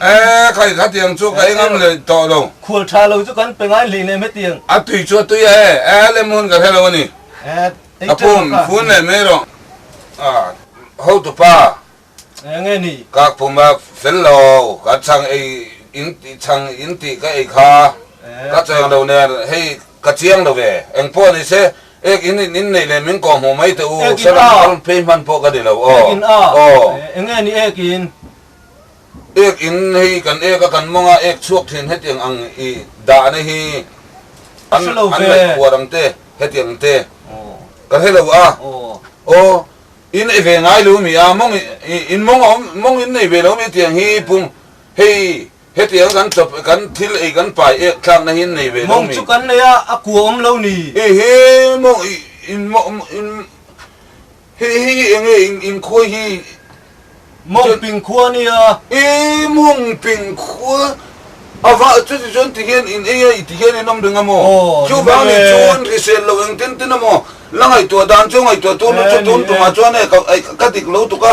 Eee khai kha tiang chu ka engam leh tawh lo. Khual tha lo chu kan pe ngai hlih lem e tiang. A tui chu a tui a e. Eee lem hun ka hre lo a ni. Eee ka pum fun leh mai rawh. Aah hotu pa. Eee nge ni. Kak pum a fel lo. Ka chhang ei in tih chhang in tih ka ei kha ka chaw eng lo nen hei ka chiang lo ve. Eng pawh ni se ek in in in nei leh min kawh hmuh mai teh u. Salam kal phei hman pawh ka ni lo aw. Ek in a. Aw. Eee enge ni ek in. Ek in hei kan ek a kan mawng a, ek chhuak thin hetiang ang i dahna hi an ngaihtuah ang te hetiang ang te ka hre lo a, aw in ei ve ngai lo mi a, mawng in mawng a awm mawng in nei ve lo mi tiang hi pung hei hetiang kan tawp kan thil ei kan pai ek thlakna hi in nei ve lo mi. Mawng chu kan nei a, a kuah awm lo ni. Ih he mawng in mawng in. Hei hi enge in inkhuai hi? Mawngping khua nia. Ee, Mawngping khua. Ava, chuti chuan tihian in ei a, i tihian in awm reng a maw? Chu vangin chuan hrisel lo eng tin tin a maw? La ngaihtuah dan chu ngaihtuah tun lutuk tun tumah chuan hei ka dik lo tuk a.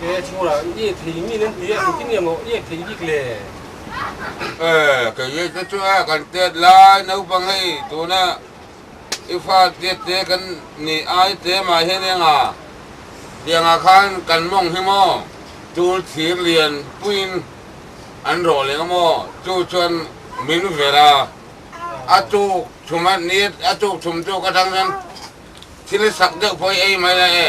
He a chhunga i iek thei ngin an ti a, chu tinge maw iek thei bik le? E, kei leh te chu a kan tet lai, naupang hei tuna i fa tiat te kan ni ai te mah hian eng a biangah khan kan mawng hi maw tul thir lian puiin an rawh leh maw chu chuan min ver a, a tuk chhum a ni a tuk chhum tuk atang chuan thil i sak deuh pawh i ei mai a e.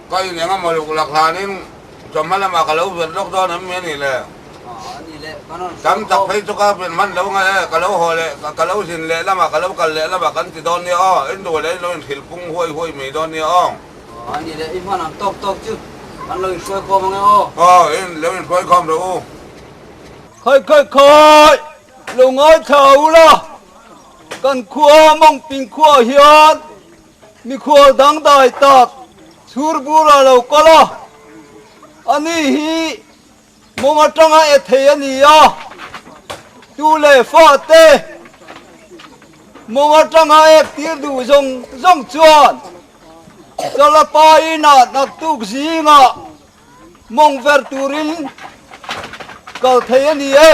Ka in engemaw luk lakhlanin Chawhma lamah ka lo zet lawk dawn em mai a nih le? Tam tak phei chu ka fian hman lo ngai e, ka lo haw leh, ka lo zin leh lam ah, ka lo kal leh lam ah kan ti dawn nia aw, in duh leh in lo inthlil pung huai huai mai dawn nia aw. Aw, a nih leh, i hman ang tawk tawk chu, kan lo inhruai khawm ang e aw. Aw, in lo inhruai khawm rawh u. Khai khai khai! Lo ngai thla u la, kan khua Mawngping khuaah hian Mikhual dangdai tak chhur bura lo kal a, ani hi mawng atanga e thei a ni a, tu leh fa te mawng atanga ek tir duh zawng zawng chuan Chala pa inah naktuk zingah mawng ver turin kal thei a ni e.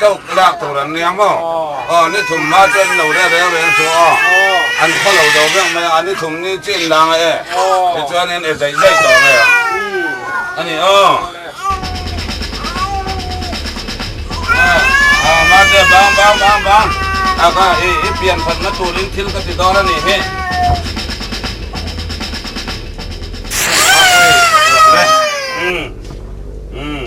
Chauh ka lak tur an nia maw? Aw, ni thum hma chu an lo rere reng suh aw. An khaw lo do vek mai a, a ni thum ni chu in dang a e. Tichuan in e zaih zaih tawh mai ang a ni aw. Aw, mahse bang bang bang bang. A ka i i pian thatna turin thil ka ti dawn a nih hi. Umm umm.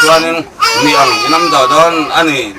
chuan in mi ang inawm ta dawn a ni.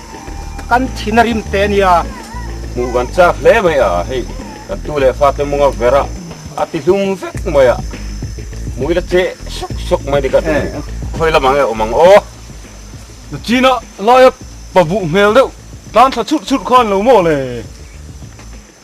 Kan thin a rim teh a nia. Hmuh kan chak hle mai a, hei kan tu leh fate mawnga vera a ti hlum vek mai a, hmui la che sawk sawk mai ni ka ti. Khawi lamah nge awm ang aw? Na china laia pabuh hmel deuh tlan thla churh churh khan lo maw le?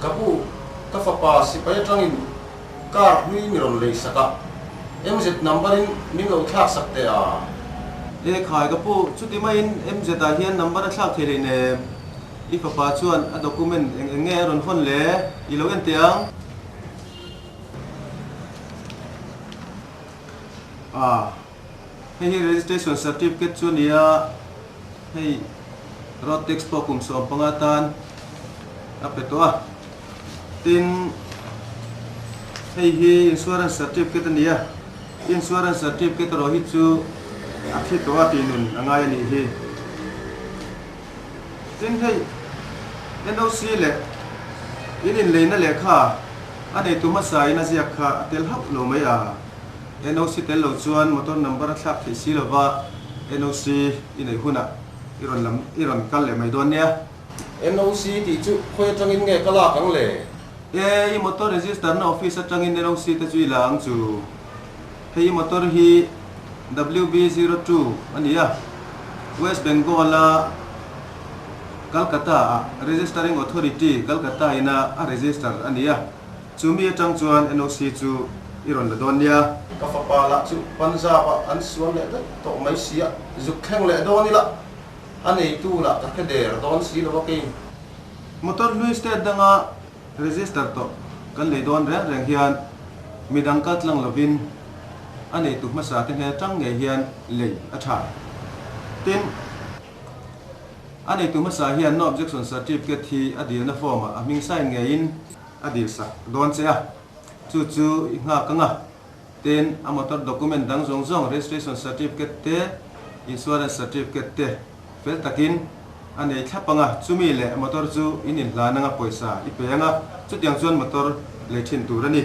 Ka bu, ka fapa sipai atangin car hlui ni rawn lei sak a, MZ number in min lo thlak sak teh a? Lekhai, Ka pu, chuti maiin MZ ah hian number a thlak thei lein em? I fapa chuan a document eng eng nge a rawn hawn le? I lo en teh ang. A. Hei hi registration certificate chu a ni a, hei road tax pawh kum sawm panga tan a pe tawh a, tin hei hi insurance certificate a ni a, insurance certificate erawh hi chu a thi tawh a tih nun a ngai a nih hi. Tin hei NOC leh in inleihna lehkha a nei tu hmasa in a ziak kha a tel hauh lo mai a. NOC tel lo chuan motor number a thlak theih si lova NOC i neih hunah i rawn lam i rawn kal leh mai dawn nia. NOC tih chu khawi atangin nge ka lak ang le? E, i motor register na office atangin NOC te chu i la ang chu. Hei i motor hi WB zero two a ni a, West Bengal a Calcutta-ah Registering Authority, Calcutta ina a register a ni a. Chu mi atang chuan NOC chu i rawn la dawn nia. Ka fapa lah chu Punjab-a an sual leh vek tawh mai sia, zuk thleng leh dawn ila a neitu lah ka hre der dawn si lo a kei. Motor hlui state danga register tawh kan lei dawn reng reng hian midang kal tlang lovin a neitu hmasa te hne tang ngei hian lei a tha. Tin, a neitu hmasa hian no objection certificate hi a dirna form-ah a hming sign ngeiin, A dirsak dawn che a, chu chu i nghak anga, ten a motor document dang zawng zawng, registration certificate te, insurance certificate te fel takin a nei thlap anga, chumi leh motor chu in inhlan anga pawisa i pe anga, chutiang chuan motor lei thin tur a ni.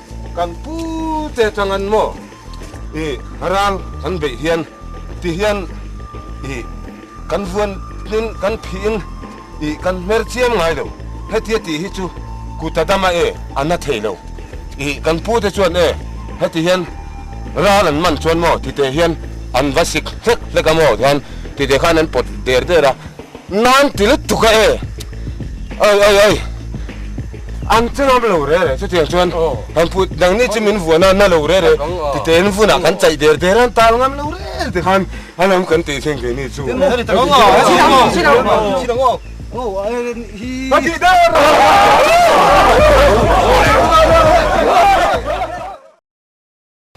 Kan pu te atang an maw i rang an beih hian ti hian i kan vuan in kan phih in i kan hmer chiam ngai lo hetia tih hi chu kuta dama e a na thei lo i kan pu te chuan e heti hian ral an man chuan maw titeh hian an va sik hlek hlek a maw ti khan titeh khan an pawt der der a. Nan ti lutuk a e. Oi oi oi. An chu lam lo re re chutiang chuan han pu dang ni chu min vuan a na lo re re ti te in vun a kan chai der der an tal ngam lo rel ti khan a lam kan ti thleng thei ni chu.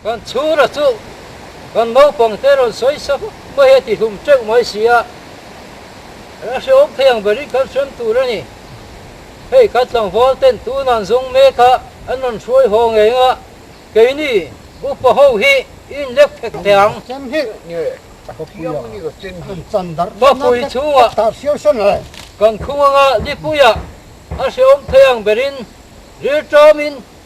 Kan chhungrua chu kan naupang te rawn sawi sa mai a tihlum teuh mai si a, a hreawm phei ang berin kan hrem tur a ni. Hei ka tlangval ten tun an zawng mek a, an rawn hruai haw ngeng a, keini upa ho hi in lek phek thei ang. Papui chhungah kan khung anga Lipuia a hreawm phei ang berin rilṭamin,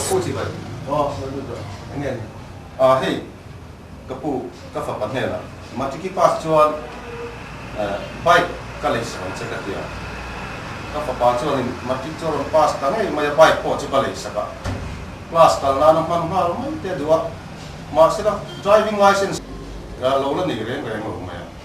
Ka pu chi vai. Aw, no no no, eng nge ni? Aw, hei, ka pu, ka fapa hnena Matikipas chuan bike ka lei sak ang che ka ti a. Ka fapa chuanin Matic chu a rawn pass ta ngei mai a, bike pawh chu ka lei sak a. Class kal nana hman nghal mai te duh a, mahsela driving licence ka lo la nei reng reng lo mai a.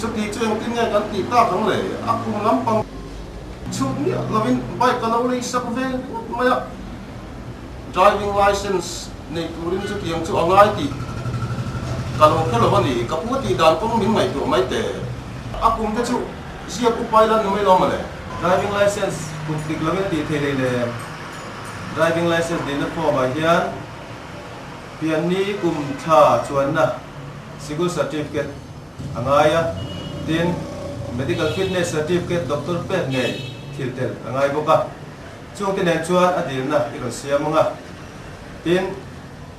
Chuti chu engtin nge kan tih tak ang le? A kum lampang. Chhuk miah lovin bike a lo lei sak ve ngawt mai a, driving licence nei turin chutiang chu a ngai tih ka lo hre lo a ni. Ka pu tih dan kawng min ngaihtuah mai teh. A kum te chu ziak upai lan ni mai lo mawle. Driving licence kum hlik lovin tih theih lei le? Driving licence neihna form ah hian pianni kum thla chuanna. School Certificate a ngai a, tin, Medical Fitness Certificate, Doctor pek ngei thil tel a ngai bawk a. Chungte nen chuan a dilna i rawn siam ang a. Tin,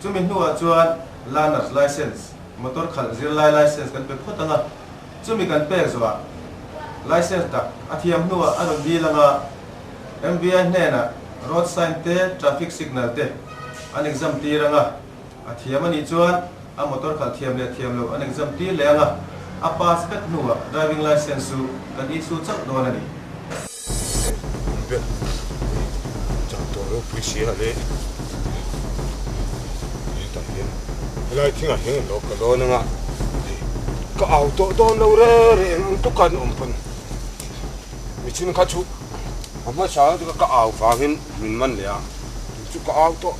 chumi hnuah chuan Learner's License, Motor khalh zir lai License kan pe phawt ang a. Chumi kan pek zawhah, License dak a thiam hnuah a rawn dil ang a. MVI hnenah Road Sign te Traffic Signal te an exam tir ang a. A thiam a nih chuan a motor khalh thiam leh thiam lo an exam tir leh ang a, a pass vek hnuah driving licence chu kan issue chauh dawn a ni. Hei hun vel hei chang tur lo pui si a leh he tah hian helai thing ah hian kan lo ka dawn ang a hei ka au tawh dawn lo re reh ang ang tuk a an awm pawhin michin kha chu a hmasa ka au vangin min man leh a tun chu ka au tawh.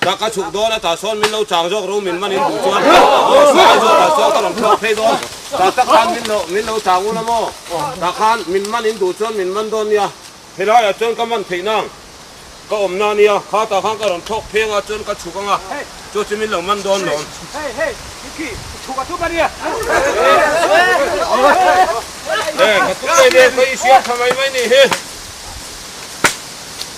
Ka ka chhuk dawn a, tah sawn min lo chang zawk ru min man in duh chuan aw sawi zawk ah sawn ka rawn thlawk phei dawn, tah tak khan min lo min lo chang u la maw, tah khan min man in duh chuan min man dawn nia, helai ah chuan ka man theih na ang ka awm na nia, kha tah khan ka rawn thlawk phei anga chuan ka chhuk anga chu chu min lo man dawn lo. He ka tum mai ve ka i siam tha mai mai ni hi.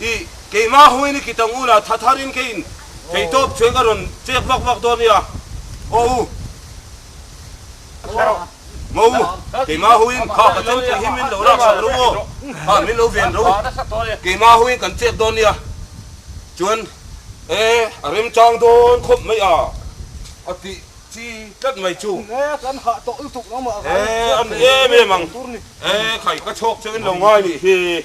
I keimah ho in i kitang u la, tha thar in kei in kei tawp cheng ka rawn chek vak vak dawn nia, aw u, maw u, keimah ho in kha ka chemtui hi min lo lak sak lo aw, kha min lo ven lo, keimah ho in kan chek dawn nia, chuan e a remchang dawn khawp mai a, a tih chi tlat mai chu, e a ni em em ang, e khai ka chhawk cheu in lo ngai nih hi,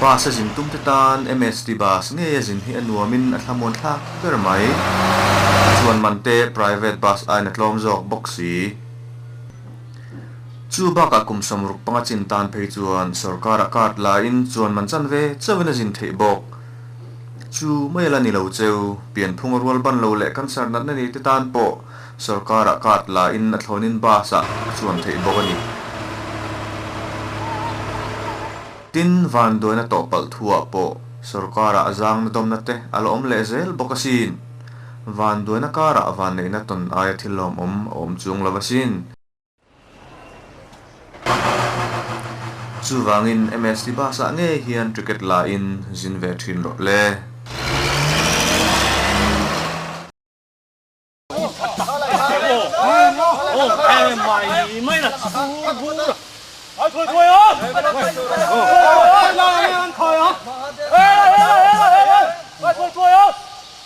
Bus a zin tum te tan msd bus ngeia zin hi a nuamin a thlamuan thlak ber mai. Chuan man te private bus ain a tlawm zawk bawk si. Chu bakah kum samruk panga chin tan phei chuan sorkar a cut lain chuan man chanve chauhin a zin theih bawk. Chu mai la ni lo che u, pian phung a rual ban lo leh cancer natna nei te tan pawh sorkara card la in a thlawn in bus ah a chuan theih bawk a ni. Tin, van duaina tawh palh thu ah pawh sorkara a zangna dawmna te a la awm leh zel bawk a sin. Van duaina kar ah van neihna tawn aia thil lawmawm a awm chung lo a sin. Chuvangin MS Dibasa ngei hian Cricket lahin zin ve thin rawh le.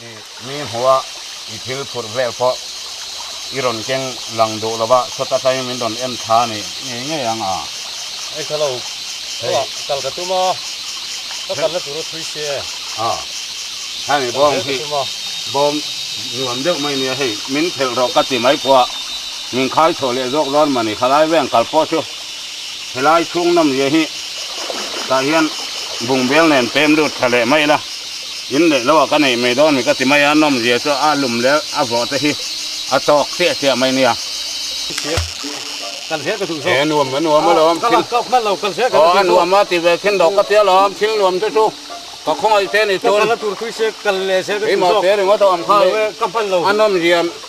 I mi hmuha i thil phurh vel pawh i rawn keng lang duh lova, sawta tlai min rawn en tha a nih ngei ngei ang a. Ei tha lo, hei kal ka tum a, ka kalna tur a thui si e. A, heng i bawm hi bawm nuam deuh mai nia, hei min phelh rawh ka ti mai pawha min khai chho leh zawk dawn mah ni, khalai veng kal pawh chu. Helai chhung nawm zia hi tah hian bungbel nen pem lut tha leh mai ila, in leh lo ah ka neih mai dawn mi ka ti mai a, nawm zia chu a lum leh a vawh te hi a tawk chiah chiah mai nia. He nuam a nuam alawm thil aw a nuam a ti ve khin deuh ka ti alawm, thil nuam te chu ka khawngaih che ni chun, keimah te ringawt a awm kha hi a nawm zia.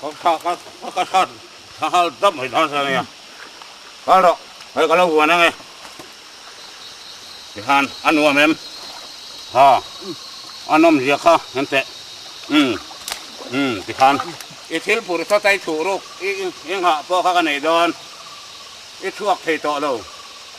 Ka tha ka tha ka tha tha hal dam mai dan sa nia ka rawh hei ka lo huan ange tihan a nuam em ha a nawm zia kha hen te um um tihan i thil pur tha tai thuh ruk i i nghah pawh kha ka nei dawn i chhuak thei tawh lo.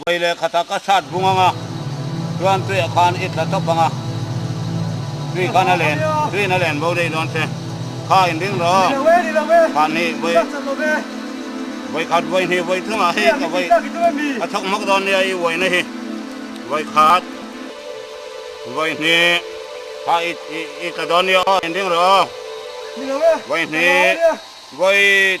Vawi leh khata ka hrat bung ang a, Tuan Tuia khan i tla tawp ang a, Tui khan a len, Tuin a len bo daih dawn che, Kha in ring rawh, khan hi vawi vawi khat vawi hnih vawi thung ah hi ka vawi a chhawk mak dawn nia i vawi na hi, vawi khat vawi hnih kha i tla dawn nia aw in ring rawh, vawi hnih vawi.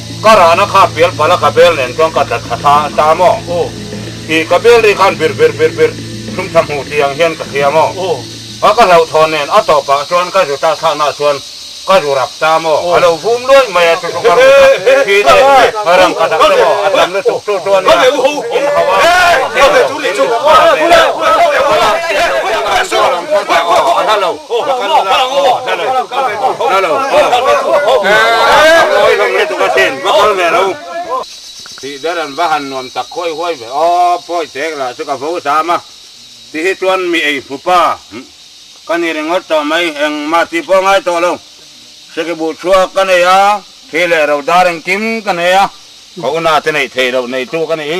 Ka rahna kha pial pala ka bel nen chuan ka tla tha ta maw i, ka bel ri khan bir bir bir bir thlum tha hmuh ti ang hian ka hria maw a ka hlauh thawn nen a tawp ah chuan ka zuta chhan ah chuan ka zu rap ta maw a lo vum luai mai a chu chu ka ru tak khi te a rang ka tak ta maw a tam lutuk chu chuan nia in ho a thil zawk in a hla lo. Tih der an va han nuam tak huai huai ve aw, pawi tek lah chu ka vo zam a, ti hi chuan mi ei pupa ka ni ringawt tawh mai, eng mah ti pawh a ngai tawh lo, hre ke buh chhuak ka nei a, khi leh ro dar engkim ka nei a. Ka una te neih theih loh neitu ka ni hi.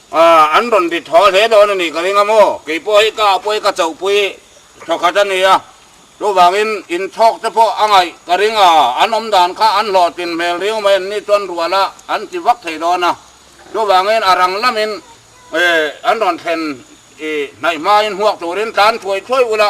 A, an rawn dit haw hle dawn a nih ka ring a maw? Kei pawh hi ka apawi ka chauhpui thaw khat a ni a, chuvangin in chhawk te pawh a ngaih ka ring a, an awm dan kha an hlawhtling hmel riau mai an ni chuan rual a an ti vak thei dawn a, chuvangin a rang lamin e an rawn thlen i hnaih hmaiin huak turin tlan thuai thuai ula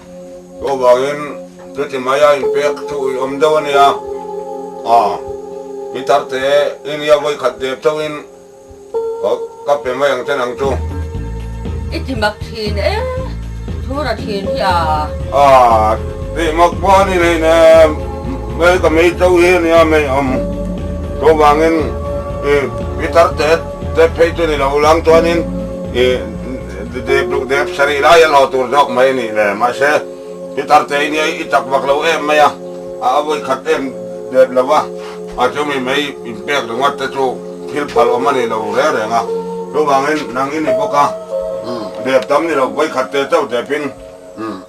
Chu vangin chuti mai a inpek thu ih awm deuh a nia. Aw, mi tarte inia vawi khat dep chauhin ka pe mai ang chen ang chu. I ti mak thin e, thu ra thin hi a. Aw, ti mak pawh a ni nei ne, mei ka mei chau hi a nia, mei awm. Chu vangin i mi tarte tep phei chu ni lo, lang chuanin i Dudeh duhdep sarih lai a lo tur zawk mai a nih le. Mahse, i tarte i nia, i chak vak lo em mai a, a a vawikhat em dep lo va. A chumi mai in pek ringawt te chu thil phal awm a nih lo reng reng a. Chuvangin nang i ni bawk a, dep tam ni lo vawikhat te chauh depin.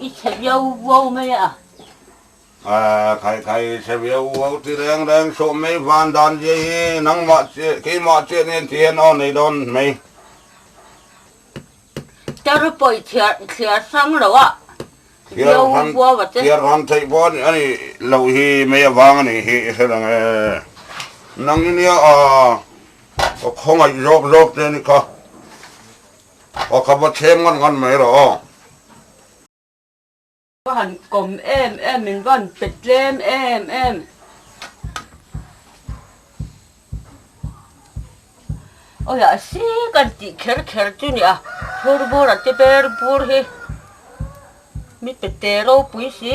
I chhe viau vuau mai a. Kha khai khai i chhe viau vuau ti reng reng sawh mai van dan zia hi nangmah chiah keimah chiah nen ti hian aw nei dawn mai. Ka ri pawih thliar thliar hrang lo a, viau vuau a che. Thliar hrang theih pawh a nih a nih loh hi mai avang a nih hi i hre reng e. Nang i nia a, ka khawngaih zawk zawk che a ni kha. Aw kha va thlem ngan ngan mai rawh aw. Va han kawm em em min va han pe tlem em em. Aw hia a si kan tih kher kher chu nia phur bur a ti ber bur hi mi pe te ropui si.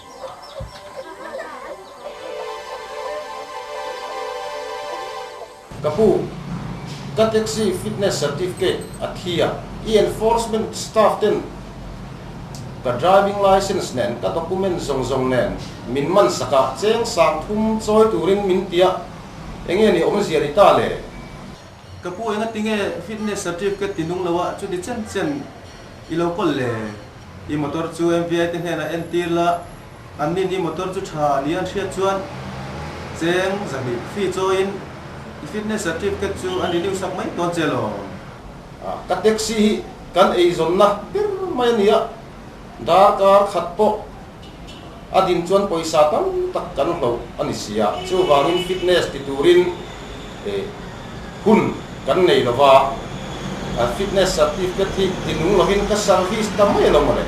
Ka pu, ka taxi fitness certificate a thi a, i enforcement staff ten ka driving licence nen ka document zawng zawng nen min man sak a, cheng sang thum chawi turin min ti a, enge ni awm zia ni ta le? Ka pu engatinge fitness certificate ti nung lo a, chu ni chen chen. I lo call le, i motor chu MVI te hnenah a entir la, an nin i motor chu tha a nih an hriat chuan cheng zahnih fee chawiin i fitness certificate chu an renew sak mai tawn che lo. Ka taxi hi kan eizawnna ber mai a ni a, darkar khat pawh A ding chuan pawisa tam tak kan hloh a ni sia. Chuvangin fitness ti turin hun kan nei lo va, fitness certificate hi tinung lovin ka service ta mai alawm ale.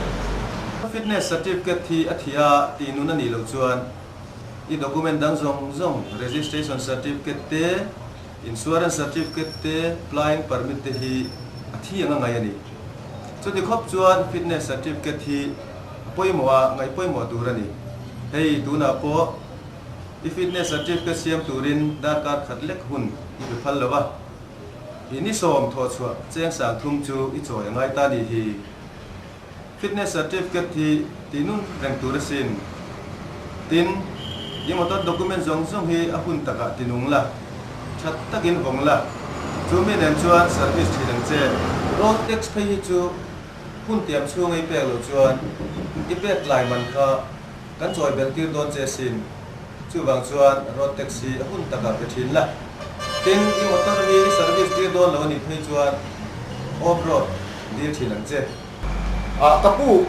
Ka fitness certificate hi a thih a tih nun a nih loh chuan i document dang zawng zawng, registration certificate te, insurance certificate te, flying permit te hi a thi anga ngai a ni. Chuti khawp chuan fitness certificate hi. A pawimawh a ngaih pawimawh tur a ni. Hei tunah pawh i fitness certificate siam turin darkar khat lek hun i pe phal lo a. I ni sawm thawh chhuah cheng sang thum chu i chawi a ngai ta ni hi. Fitness certificate hi tihnun reng tur asin. Tin, i motor document zawng zawng hi a hun takah ti nung la, that takin vawng la. Chu mi nen chuan service thin ang che. Road tax phei hi chu Hun tiam chhung a i pek loh chuan i pek tlai man kha kan chawi belh tir dawn che sin. Chuvang chuan road tax hi a hun takah pe thin la. Tin, i motor hi i service tir dawn lo a nih phei chuan off road tir thin ang che. Ah ka pu,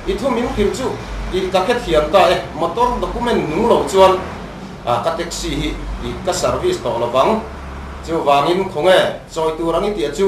i thumin kim chu i ka khe thiam ta e, motor document nung lo chuan ah ka taxi hi i ka service tawh lo vang. Chuvangin khawnge chawi tur ang i tih a chu?